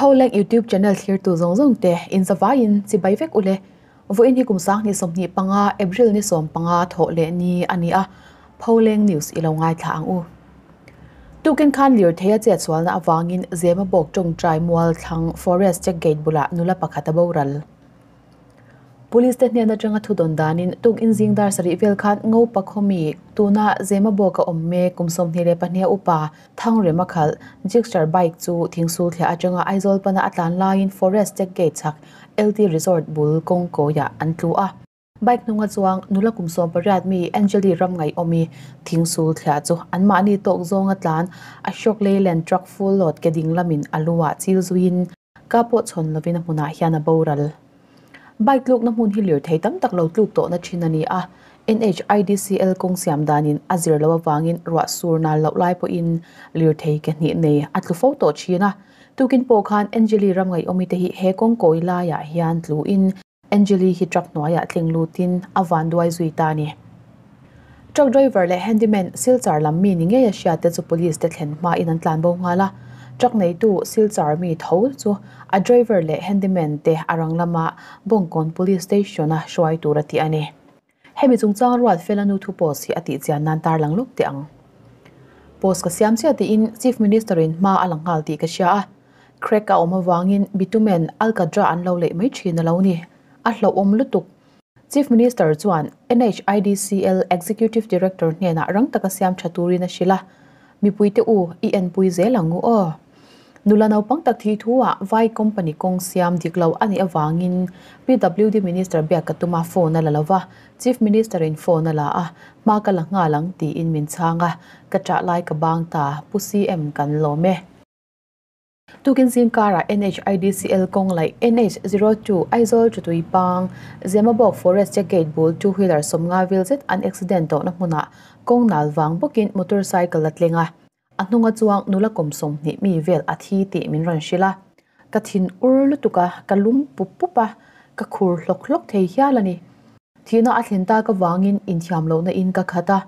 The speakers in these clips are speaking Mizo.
Pholeng YouTube channel thlirtu zawng zawng te inzavai in chibai vek ule. Vawiin hi kum sang hnih sawmhnih panga April ni sawm panga thawh leh ni a ni a, Pholeng News i lo ngaithla ang u. Tukin khan lirtheia chetsualna avangin Zemabawk tawngtai mualthlang forest check gate bulah nula pakhat a boral. Police te hnen atanga thudawn danin tuk inzing dar sarih vel khan Ngopa khawmi tuna Zema bawk a awm mek kum sawmhnih leh pahniha upa Thangrema khalh Gixxer bike chu thing sulthliah atanga Aizawl pana a tlan laiin Forest check gate chhak LT Resort bul kawngkawiah an tlu a. Bike hnunga chuang nula kum sawm pariat mi Angeli Ramngaihawmi thing sulthliah chu anmahni tawk zawnga tlan Ashok Leyland truck full load ke ding lamin a lu a chil zuiin Ka pawh chhawn lovin a hmunah hian a boral. Bike tlukna hmun hi lirthei tam tak lo tluk tawhna thin a ni a, NHIDCL kawng siam danin a zir loh avangin ruah sur nal loh lai pawhin lirthei ke hnih nei a tlu fo tawh thin a. Tukin pawh khan Angelie ramngaihawmite hi he kawng kawi laiah hian tluin, Angelie hi truck hnuaiah tling lutin a van duai zui ta a ni. Truck driver leh handyman Silchar lam mi ni ngei a hriat te chu police te thlen hmain an tlan bo nghal a. Truck neitu Silchar mi tho chu a driver leh handyman te a rang lama Bawngkawn Police Station a hruai tur a ti a ni. Hemi chungchang rual fel a nu thu post hi a tihchian nan tarlang lawk teh ang. Post ka siam chiah tiin Chief Minister in hma a la nghal tih ka hria a. Crack a awm avangin bitumen alkadra an lo leih mai thin a lo ni. A hlauhawm lutuk. Chief Minister chuan NHIDCL Executive Director hnenah rang taka siam tha turin a hrilh a, Mipuite u, i enpui zel ang u aw. Nula naupang tak thih thu ah vai company kawng siam dik lo a nih avang in PWD Minister biak ka tum a, phone a la lo va, Chief Minister in phone a la a, hma ka la nghal ang ti in min chhang a, ka chah lai ka bang ta, Pu CM kan lawm e. Tukin zingkar ah NHIDCL kawng laih NH zero two Aizawl Ṭutui pang Zemabawk Forest che gate bul two wheeler sawm nga vil zet an accident tawh na hmun ah kawng nal vang bawk in motor cycle a tleng a, A hnunga chuang nula kawm sawm hnih mi vel a thi tih min rawn hrilh a, ka thin ur lutuk a, ka lum pup pup a, ka khur hlawk hlawk thei hial a ni. Thihna a thlen ta ka vangin inthiam lohna in ka khat a,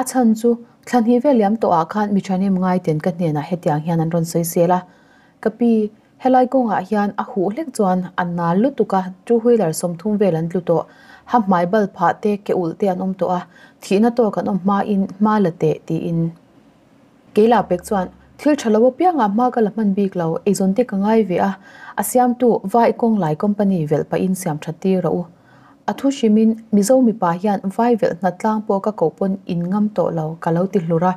a chhan chu thla hnih vel liam tawh ah khan mi thanem ngai ten ka hnenah hetiang hian an rawn sawi sel a, ka pi helai kawngah hian a huh hlek chuan a nal lutuk a, two wheeler sawm thum vel an tlu tawh, ha hmai bal phah te ke ulh te an awm tawh a, thihna tawk an awm hma in hma la teh tiin. Kei lah pek chuan, Thil tha lo apiangah hma ka la hman bik lo, eizawn te ka ngai ve a, a siamtu Vai i kawng lai company velh pahin siam tha tir rawh u. A thu hrimin Mizo mipa hian vai velh hnat tlang pawh ka koh pawn in ngam tawh lo ka lo ti hlur a.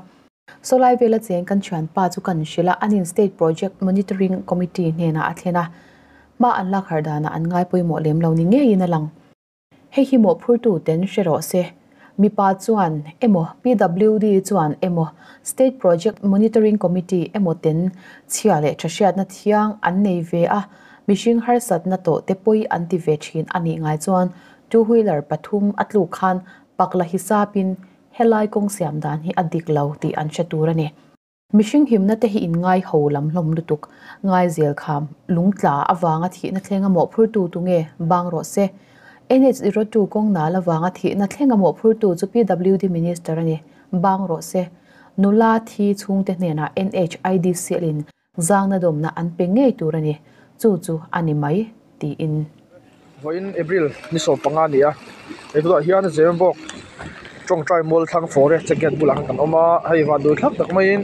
Sawlai vela cheng kan thianpa chu kan hrilh a, anin State Project Monitoring Committee hnenah a thlen a, hma an lakhar danah an ngai pawimawh lem lo ni ngeiin a lang. Hei hi mawhphurtu ten hre rawh se, mipa chuan emaw, PWD chuan emaw, State Project Monitoring Committee emaw ten chhia leh tha hriatna thiang an nei ve a, mihring harsatna tawh te pawi an ti ve thin a nih ngai chuan two wheeler pathum a tluk khan pakla hisap in helai kawng siam dan hi a dik lo tih an hre tur a ni. Mihring himna te hi inngaihho lam hlawm lutuk, ngaizel kham, lungtla avanga thihna thlenga mawhphurtu tu nge bang rawh se. NH zero two kawng nal avanga thihna thlenga mawhphurtu chu PWD Minister a ni, bang rawh se. Nula thi chhungte hnenah NH, IDCL in zangna dawmna an pe ngei tur a ni, chu chu a ni mai. tiin. Vawiin April ni sawm panga a ni a, he bulah hian Zirnbawk tawngtai mual thlang forest che gate bulah kan awm a, hei vanduh thlak tak maiin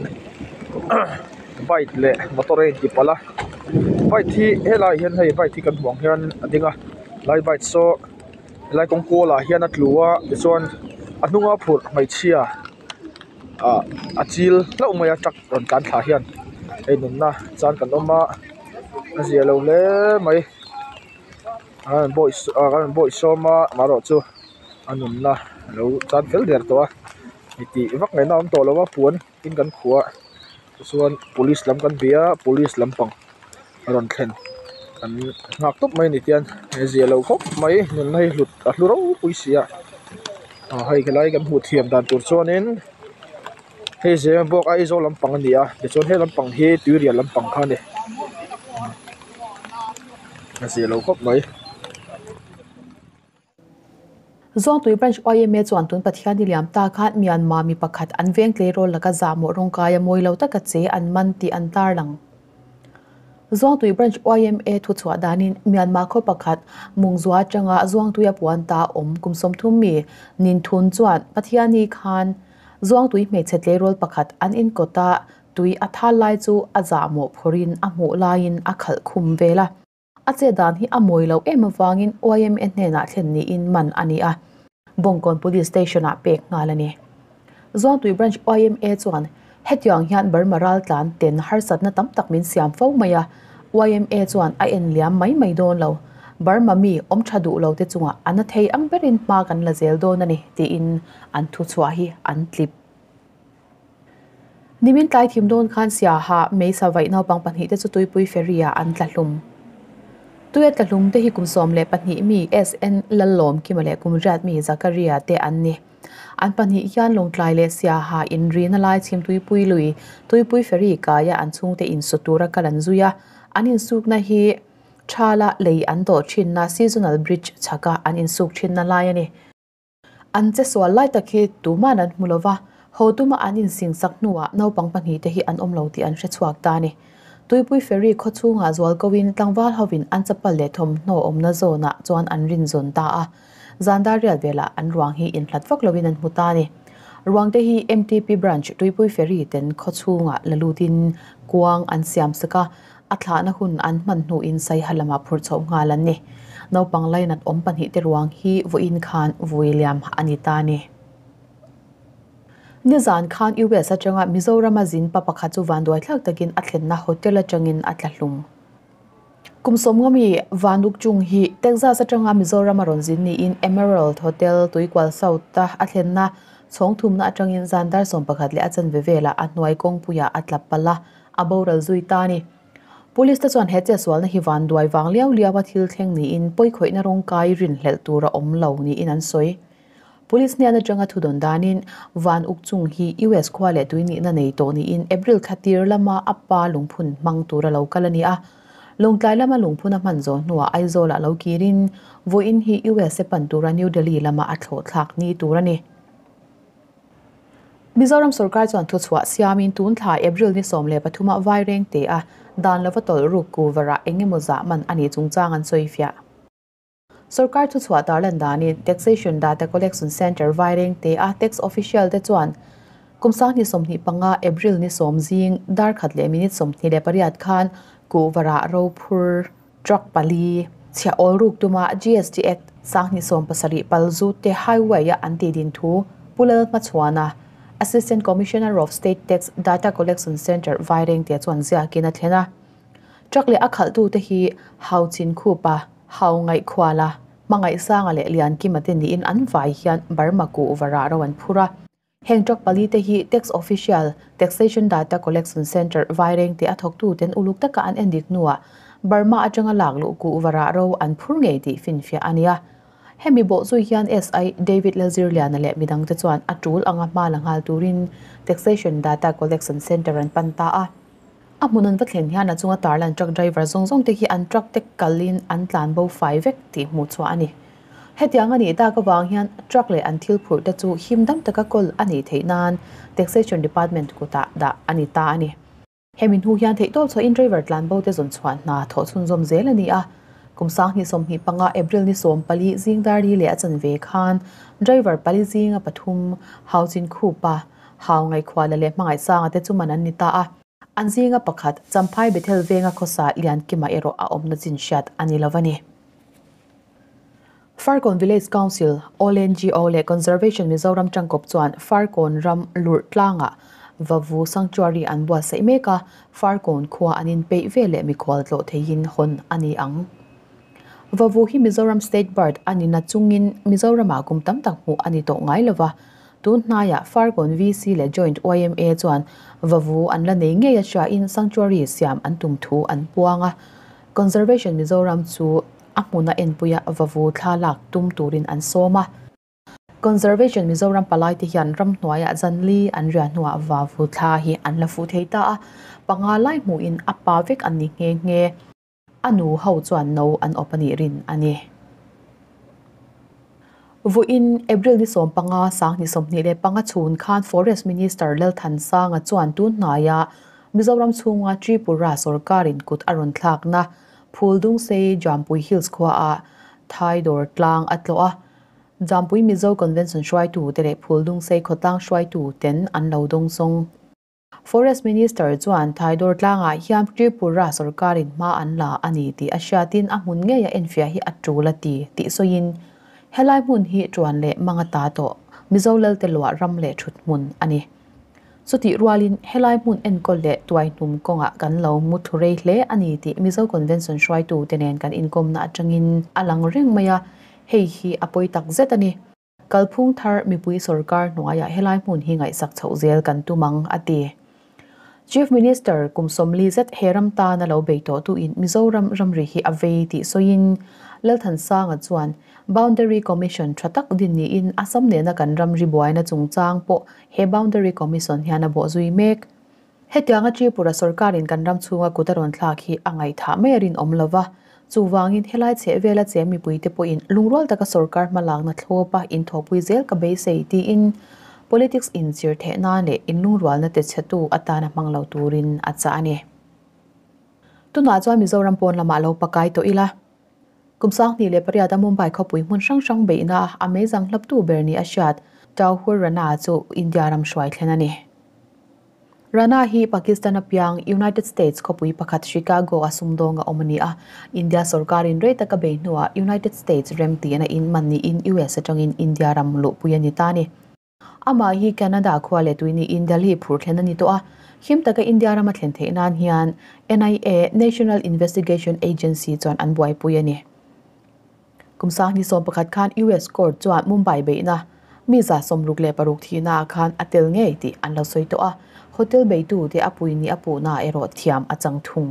bike leh motor a inti palh a, bike hi helaiah hian hei bike hi kan hmuh ang hian a ding a, helai bike saw helai kawng kual ah hian a tlu a tichuan a hnung a phurh hmeichhia-- ah a chil hlauh mai a truck rawn tlan thla hian hei nunna chuan kan awm a a ziah lo hle mai kan rawn bawi ah kan rawn bawi sawm a amaherawhchu chu a nunna a lo tan fel der tawh a ni tih vak ngaihna a awm tawh lo a puan in kan khuh a. Tichuan police lam kan bia police lampang a rawn thlen an nghak tawp mai a ni tian he zia lo khawp mai nunna hi hlut a hlu ropui sia ah hei ka lai kan hmuh thiam dan tur chuanin hei zia ah bawk Aizawl lampang a ni a tichuan he lampang hi Tuirial lampang kha a ni a zia lo khawp mai. Zawngtui Branch YMA chuan tun Pathian niliam ta khan Myanmar mi pakhat an veng tleirawl laka zahmawh rawng kaia mawi lo taka che an man tih an tarlang. Zawngtui Branch YMA thuchhuah danin Myanmar khaw pakhat Mungzua atanga Zawngtuia puan ta awm kum sawmthum mi Nin Thun chuan Pathian ni khan Zawngtui hmeichhe tleirawl pakhat an inkawta tui a thal lai chu a zahmawh phawrhin a hmuh laiin a khalh khum ve la. A che dan hi a mawi lo em avangin yma hnenah thlen niin man a ni a, Bawngkawn Police Station-ah pek nghal a ni. Zuangtui Branch yma chuan hetiang hian Burma raltlan ten harsatna tam tak min siam fo mai a, yma chuan a en liam mai mai dawn lo, Burma mi awm tha duh lo te chungah ana thei ang berin hma kan la zel dawn a ni, tiin an thuchhuah hi an tlip. Nimin tlai thim dawn khan Siaha, Meisavaih naupang pahnih te chu Tuipui Ferry ah an tla hlum. Tuia tla hlum te hi kum sawm leh pahnih mi SN Lallawmkima leh kum riat mi Zakaria te an ni. An pahnih hian Lawngtlai leh Siaha in rina lai chhim Tuipui lui, Tuipui Ferry kaia an chhungte in saw tura kal an zui a. An in sukna hi Tha la lei an dawh thinna Seasonal Bridge chhaka an in suk thinna lai a ni. An che sual lai tak hi tuman an hmu lova, Hotuma an insingsak hnuah naupang pahnih te hi an awm lo tih an hre chhuak ta a ni. Tuipui Ferry khaw chhungah zual koin tlangval hovin an chapal leh thawmhnaw awmna zawnah chuan an rin zawn ta a. Zandar rial velah an ruang hi inhlat vak loin an hmu ta a ni. Ruang te hi mtp Branch Tuipui Ferry ten khaw chhungah la lutin kuang an siam sak a, A thlahna hun an hmanhnuh in Saiha lamah phur chhoh nghal an ni. Naupang lainat awm pahnih te ruang hi vawiin khan vui liam a ni ta ni. Nizan khan US atanga Mizorama zinpa pakhat chu vanduai thlak takin a thlenna hotel atangin a tla hlum. Kum sawmngaw mi vanuk chung hi Texas atanga Mizorama rawn zin niin Emerald Hotel Tuikual South a a thlenna chhawng thumna atangin zandar sawmpakhat leh a chanve vela a hnuai kawngpuia a tla pal a, A boral zui ta a ni. Police te chuan he chesualna hi van duai vang liau liaua thil thleng niin pawikhawihna rawng kai rinhlelh tur a awm lo niin an sawi. Police hnian atanga thudawn danin van uk chung hi US khua leh tuihnihna nei tawh niin April thla tir lama a pa lungphun hmang tur a lo kal a ni a. Lungtlai lama lungphun a hman zawh hnuah Aizawlah lo kirin vawiin hi US-e pan tura New Delhi lama a thlawhthlak ni tur a ni. Mizoram sorkar chuan thuchhuah siamin tun thla April ni sawm leh pathuma vai reng te a dan lova tawlh ruk ku varah eng emaw zah man a nih chungchang an sawi fiah. Sorkar thuchhuah tar lan danin Taxation Data Collection Centre vai reng te a tax official te chuan kum sang ni sawmhnih panga April ni sawm zing dar khat leh minute sawmhnih leh pariat khan ku varah ro phur Truck pali, chhia awl ruk tuma GST Act sanghnih sawm pasarih pal zute highway a an tih din thu Pulal hmachhuan a Assistant Commissioner of State Tax Data Collection Centre vai rengte chuan ziakin a thlen a. Truck leh a khalhtu te hi Hau Chin Khupa, Hau Ngaih Khuala, Hmangaih Sanga leh Lian Kima te niin an vai hian Burma kuh varah ro an phur a. Heng truck pali te hi Tax Official, Taxation Data Collection Centre, Vaireng tih a thawktu ten uluk taka an en dik hnuah Burma atanga lak luh kuh varah ro an phur ngei tih finfiah a nia. Hemi bawhzui hian SI David Lalzirliana leh midang te chuan a tul anga hma la nghal turin Taxation Data Collection Centre an pan ta a. A hmun an va thlen hian a chunga tarlan truck driver zawng zawng te hi an truck te kal in an tlan bo fai vek tih hmuh chhuah a ni. Hetiang a nih tak avang hian truck leh an thil phurh te chu him dam taka kawl a nih theih nan Taxation Department kutah dah a ni ta a ni. Hemi hnu hian theihtawp chhuahin driver tlan bo te zawn chhuah hna thawh chhunzawm zel a ni a. Kum sang hnih sawmhnih panga April ni sawm pali zingdar ri leh a chanve khan driver pali zinga pathum, Hauchin Khupa, Hau ngaihkhuah leh leh hmangaih sanga te chu man an ni ta a. An zinga pakhat, Champhai Bethel venga khawsa Lian Kima erawh a awmna chin hriat a ni lo a ni. Farkawn Village Council, All NGO leh Conservation Mizoram Tangkawp chuan Farkawn ram lurh tlanga Vavu Sanctuary an buatsaih mek a, Farkawn khua an inpeih ve leh mikhual tlawh theihin hawn a ni ang. Vavu hi Mizoram State Bird a nina chungin Mizoramah kum tam tak hmuh a ni tawh ngai lo va, Tun hnaiah Fargon VC leh Joint YMA chuan vavu an la nei ngei aṭahin Sanctuary siam an tum thu an puang a. Conservation Mizoram chu a hmun a enpuia vavu thla lak tum turin an sawm a. Conservation Mizoram palaite hian ram hnuaiah zanli an riah hnuah vavu thla hi an la fuh thei ta a, panga lai hmuhin a pa vek an ni nghe nghe. A nu ho chuan no an awp a nih rin a ni. Vuin April ni sawm panga sang ni sawmhnih leh panga chhun khan Forest Minister Lalthansanga chuan tun hnaia Mizoram chhunga Tripura sawrkarin kut a rawn thlakna Phuldungsei Jampui Hills khuaah thai dawr tlang a tlawh a. Jampui Mizo Convention hruaitu te leh Phuldungsei khawtlang hruaitu ten an lo dawng zawng. Forest Minister chuan Thaidor tlangah hian Tripura sorkarin hma an la a ni tih a hriatin a hmun ngeia enfiah hi a tul a ti tih sawiin, Helai hmun hi ṭuan leh manga ta tawh Mizo lalte luah ram leh ṭhuthmun a ni. Chutih rualin helai hmun enkawl leh tuaihnum kawngah kan lo mu thu rei hle a ni tih Mizo Convention hruaitute nen kan inkawmna aṭangin a lang reng mai a, hei hi a pawi takzet a ni. Kalphung thar mipui sorkar hnuaiah helai hmun hi ngaihsak chhoh zel kan tum ang, a ti. Chief Minister kum sawmli zet he ram tan a lo bei tawh tuin Mizoram ramri hi a vei tih sawiin Lalthansanga chuan Boundary Commission tha tak din niin Assam nena kan ramri buaina chungchang pawh he Boundary Commission hian a bawh zui mek Hetianga Tripura sawrkarin kan ram chhunga kut a rawn thlak hi a ngaithah mai a rinawm lo va, chuvangin helai chhehvela che mipuite pawhin lungrual taka sawrkar hmalakna thlawp a inthawhpui zel ka beisei tiin politics inchir theih nan leh inlungrualna te chhetu atana hmang lo turin a chah a ni. Tunah chuan Mizoram pawn lamah lo pakai tawh ila Kum sanghnih leh pariata Mumbai khawpui hmun hrang hrang beihna a meizang hlaptu ber ni a hriat Tauhur Rana chu India ram hruai thlen a ni. Rana hi Pakistan apiang United States khawpui pakhat Chicago a sumdawng a awm a ni a, India sorkarin rei taka bei hnuah United States remtiana in mahniin US atangin India ram luhpui a ni ta a ni. Amah hi Canada khua leh tui niin Delhi phur thlen a ni tawh a. Hlim taka India rama thlen theih nan hian NIA, National Investigation Agency, chuan an buaipui a ni. Kum sang ni sawm pakhat khan US Court chuan Mumbai beihna mi za sawmruk leh paruk thihna ah khan a tel ngei tih an la sawi tawh a. Hotel beitute a pui nih a puhna erawh thiam a chang thung.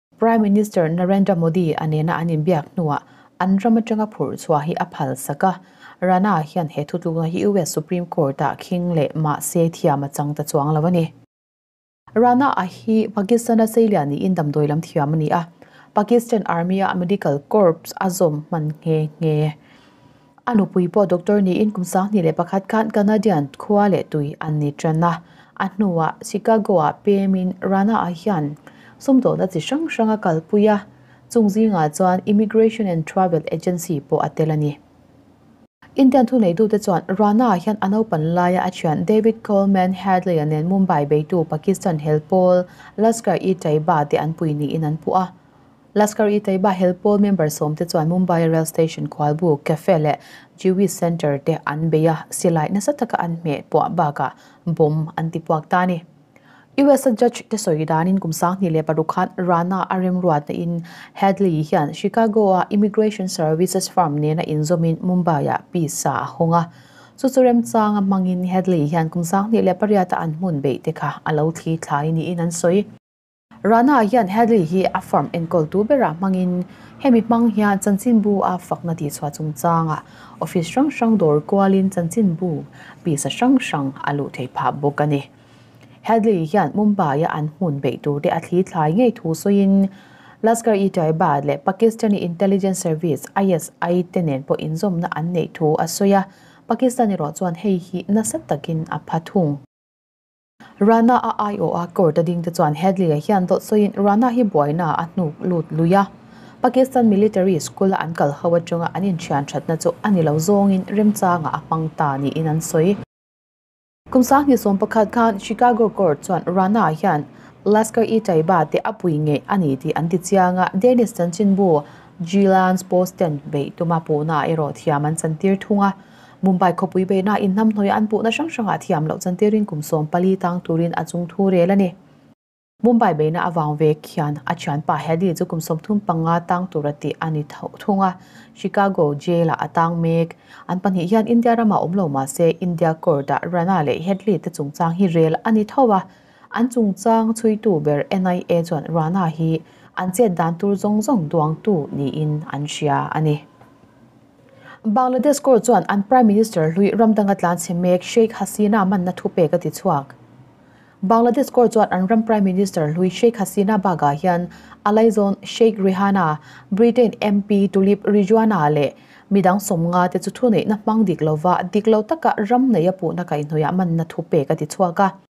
Prime Minister Narendra Modi a nena an inbiak hnuah an ram atanga phurh chhuah hi a phalsak a. Rana hian he thutlukna hi US Supreme Court-ah khing leh mahse thiam a chang ta chuang lo a ni. Rana a hi Pakistan-a seiliah niin damdawi lam thiam a ni a. Pakistan Army-a Medical Corps a zawm hman nghe nghe. A nupui pawh doctor niin kum sanghnih leh pakhat khan Canadian khua leh tui an ni ṭan a. A hnuah Chicago-a pêmin Rana-a hian sumdawhna chi hrang hrang a kalpui a, chung zingah chuan Immigration and Travel Agency pawh a tel a ni. Indian thuneitute chuan Rana-a hian a naupan laia a ṭhian David Coleman Hadley-a nen Mumbai beitu Pakistan helpawl Lashkar-e-Taiba te an pui niin an puh a. Lashkar-e-Taiba hel pawl member sawmte chuan Mumbai rail station khualbu cafe leh Jewish centre te an bei a, silai nasa taka an hmeh puah bakah bawm an ti puak ta a ni. US-a judge te sawi danin kum sanghnih leh paruk khan Rana a remruatnain Hadley hian Chicago-a Immigration Services Firm nena inzawmin Mumbai-a pizza a hawng a. Chu chu remchanga hmangin Hadley hian kum sanghnih leh pariata an hmun beih te kha a lo thli thlai niin an sawi. Rana-ah hian Hadley hi a form enkawl tu berah hmangin hemi hmang hian chanchinbu a fakna tihchhuah chungchanga office hrang hrang dawr kualin chanchinbu pisa hrang hrang a luh thei phah bawk a ni. Hadley hian Mumbai-a an hun beih turte a thli thlai ngei thu sawiin Lashkar-e-Taiba leh Pakistani Intelligence Service, ISI, te nen pawh inzawmna an neih thu a sawi a, Pakistan erawh chuan hei hi nasa takin a pha thung. Rana a aiawh a, court-a ding te chuan Headley-a hian dawt sawiin Rana hi buaina a hnuk lut lui a. Pakistan Military School-a an kal ho aṭanga an inthian ṭhatna chu a ni lo zawngin remchanga a hmang ta niin an sawi. Kum sanghnih sawm pakhat khan Chicago court chuan Rana-a hian Lashkar-e-Taiba te a pui ngei a ni tih an ti chiang a, Dennis chanchinbu Jilans post ten beih tuma puna erawh thiam an chantir thung a. Mumbai khawpui beihna in hnamhnawia an puhna hrang hrangah thiam loh chan tirin kum sawm pali tang turin a chung thu rel a ni. Mumbai beihna a vang vek hian a thianpa Hadi chu kum sawm thum panga tang tur a tih a ni thung a, Chicago Jail-ah a tang mek. An pahnih hian India ramah awm lo mahse India Court-ah Rana leh Headley te chungchang hi rel a ni tho va, an chungchang chhuitu ber NIA chuan Rana hi an chet dan tur zawng zawng duangtu niin an hria a ni. Bangladesh Court chuan an Prime Minister hlui ramdang a tlanchhe mek Sheikh Hasina manna thu pek a ti chhuak. Bangladesh Court chuan an ram Prime Minister hlui Sheikh Hasina bakah hian a laizawn Sheikh Rehana, Britain MP Tulip Ridwana leh midang sawmnga te chu thuneihna hmang dik lova, dik lo taka ram neih a puhna kaihhnuiah manna thu pek a ti chhuak a.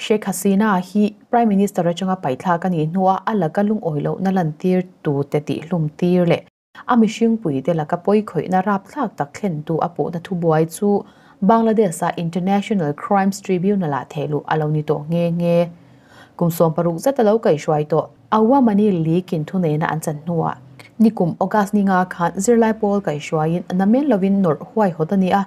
Sheikh Hasina hi Prime Minister atanga paihthlak a nih hnu a a laka lungawi lohna lantir tute tihlum tir leh a mihringpui te laka pawi khawihna rapthlak tak thlentu a pawhna thubuai chu Bangladesh-a International Crimes Tribunal-ah thehluh a lo ni tawh nghe nghe. Kum sawm paruk zet a lo kaih hruai tawh. Awamani League in thuneihna an chan hnuah ni kum August ni nga khan zirlai pawl kaihhruaiin na men lovin nawrh huai hawt a ni a,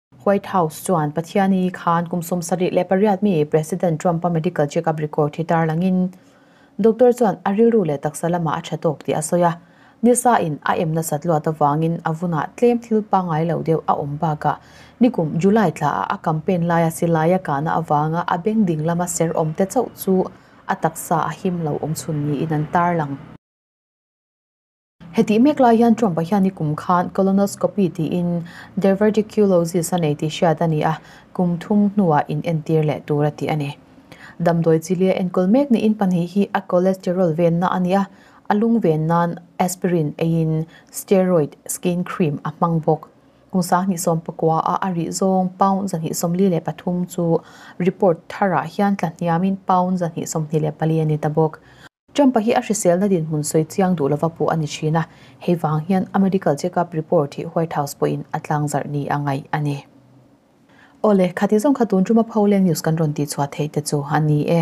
White House chuan Pathiani khan kum sawmsarih leh pariat mi President Trump-a medical check-up record hi tarlangin doctor chuan a rilru leh taksa lamah a tha tawk tih a sawi a. Nisa in a em nasat luat avangin a vunah tlem thil pangngai lo deuh a awm bakah nikum July thlaah a campaign laia silaiia kahna avanga a beng ding lama serhawmte chauh chu a taksa a him lo awm chhun niin an tarlang. Hetih mek lai hian Trump-a hian i kum khan colonoscopy tiin diverticulosis a nei tih hriat a ni a, kum thum hnuah inentir leh tur a tih a ni. Damdawi chi lia enkawl mek niin pahnih hi a cholesterol venna a ni a, a lung venna'n aspirin eiin steroid skin cream a hmang bawk. Kung sahnih sawm pakuaah a rih zawng pound zahnih sawmli leh pathum chu report tharah hian tla hniamin pound zahnih sawmhnih leh pali a ni ta bawk. Trump-a hi a hriselna dinhmun sawi chiang duh lova pawh a ni thin a, hei vang hian a medical check-up report hi White House pawhin a tlangzarh ni a ngaih a ni. Aw le, khati zawng kha tun Trump-a pho leng news kan rawn tih chhuah theih te chu a ni e.